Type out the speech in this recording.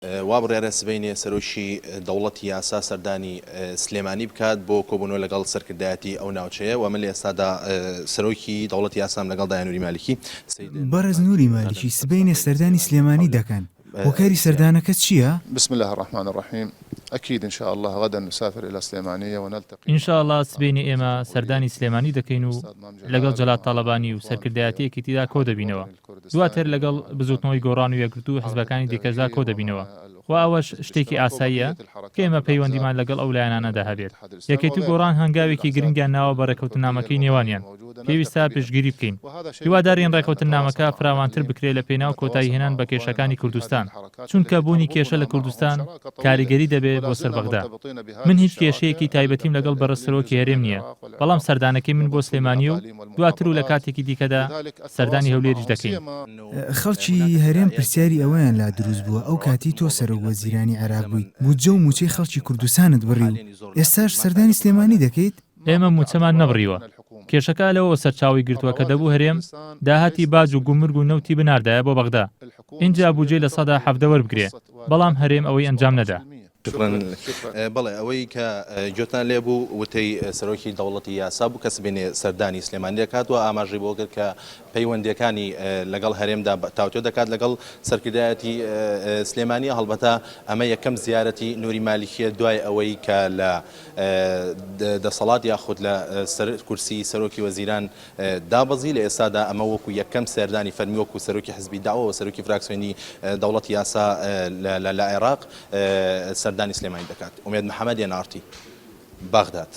وابڕیارە سبەینێ سەرۆکی دەوڵەتی یاسا سەردانی سلێمانی بکات بۆ کۆبوونەوە لەگەڵ سەرکردایەتی ئەو ناوچەیە و من لە ئێستادا سەرۆکی دەوڵەتی یاسام لەگەڵ دایە نوری مالیکی بەڕێز نوری مالیکی سبەینێ سەردانی سلێمانی دەکەن، هۆکاری سەردانەکە چییە؟ بسم اللە الرحمن الرحیم اکید ان شاء اللە غدا نسافر الی سلیمانیە و نلتقی ان شاء اللە سبەینێ ئێمە سەردانی سلێمانی دەکەین و لەگەڵ جەلال تاڵەبانی و سەرکردایەتی یەکێتیدا کۆدەبینەوە. دواتر لەگەڵ بزوتنەوەی گۆڕان و یەکگرتوو و حزبەکانی دیکەشدا کۆدەبینەوە و ئەوەش شتێکی ئاساییە کە ئێمە پەیوەندیمان لەگەڵ ئەو لایەنانەدا هەبێت. یەکێتی و گۆڕان هەنگاوێکی گرنگیان ناوە بە رێکەوتننامەکەی نێوانیان، پێویستە پشتگیری بکەین. هیوادارین رێکەوتننامەکە فراوانتر بکرێت لە پێناو کۆتاییهێنان بە کێشەکانی کوردستان، چونکە بوونی کێشە لە کوردستان کاریگەری دەبێت بۆ سەر بەغدا. من هیچ کێشەیەکی تایبەتیم لەگەڵ بەڕێز سەرۆکی هەرێم نییە، بەڵام سەردانەکەی من بۆ سلێمانییە و، دواتر و لە کاتێکی دیکەدا سەردانی هەولێریش دەکەین. خەڵکی هەرێم پرسیاری ئەوەیان لا دروست بووە ئەو کاتی تۆ سەرۆک وەزیرانی عێراق بوویت بودجە و مووچەی خەڵکی کوردستانت بڕی و ئێستاش سەردانی سلێمانی دەکەیت؟ ئێمە مووچەمان نەبڕیوە، کێشەکە لەوەوە سەرچاوەی گرتووە کە دەبوو هەرێم داهاتی باج و گومرگ و نەوتی بناردایە بۆ بەغدا ئینجا بودجەی لە سەدا حەڤدە وەربگرێ بەڵام هەرێم ئەوەی ئەنجام نەدا. شوکرا بەڵێ ئەوەی کە گوێتان لێ بوو وتەی سەرۆکی دەوڵەتی یاسا بوو کە سبینێ سەردانی سلێمانی دەکات و ئاماژەی بۆ کرد کە پەیوەندەکانی لەگەڵ هەرێمدا تاوتۆ دەکات لەگەڵ سەرکردایەتی سلێمانی هەڵبەتە ئەمە یەکەم زیارەتی نوری مالیکیە دوای ئەوەی کە لە دەسەڵات یاخود لە سەر کورسی سەرۆکی وەزیران دابەزی، لە ئێستادا ئەمە وەکو یەکەم سەردانی فەرمی وەکو سەرۆکی حزبی دەعوە و سەرۆکی فراکسیۆنی دەوڵەتی یاسا لە عێراق سەردانی سلێمانی دەکات. ئومێد محەمەد، ئێن ئاڕ تی، بەغداد.